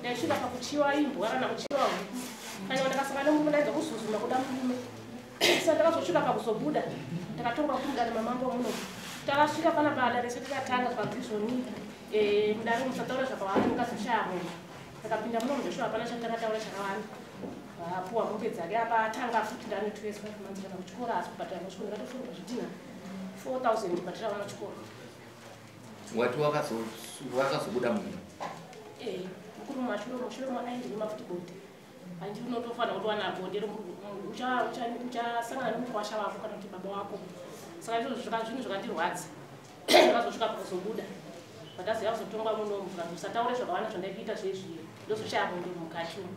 ndaisvika pakuchiwa imbwa kana kuchiwa huku kana ndakasaka nemurume ndaidza kuzuzuma kuda murume sa ndakazosvika pakuzobuda ndakatonga kumudana mamambo muno takasvika pana bada rese tikatanga zvakazizoni eh, mudare musataura zvakawanda mukazoshaya munhu ndakapinda muno mudosho hapana chandakataura chakawanda apuwa mombe dzake apa atanga futi ndanotweswa manzikana kuchikoro asi kubhadhara kuchikoro ndakatofunga zvidhina 4000 bhadhara vana chikoro wati wakazobuda mumba eh, mukuru mashure mushure makaendei makuti bonde handi unotofanira kuti wana bonde uchasangana nemukwasha wako kana kuti baba wako saka izvozvo zvinhu zvakandirwadza akazosvika pakuzobuda vataziva kuzotongwa munomu kana musataure zvakawanda zvandaikuita zvezviyo ndozoshaya bonde mukati umu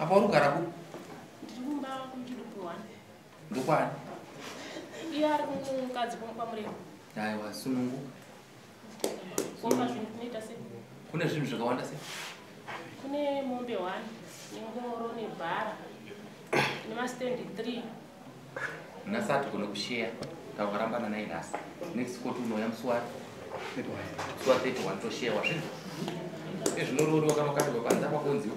apa uri kugara ku ndokwani iye ari kumukadzi kwamurema aiwa sununguka kune zvinhu zvakawanda se kune mombe one nengoro nebhara nemastendi three nhasi hatigone kusheya takarambana nai nhasi next koti unouya musi wari musi wa 31 tosheya wazvinhu ezvinororiwa kana ukapirwa panza pakonziwa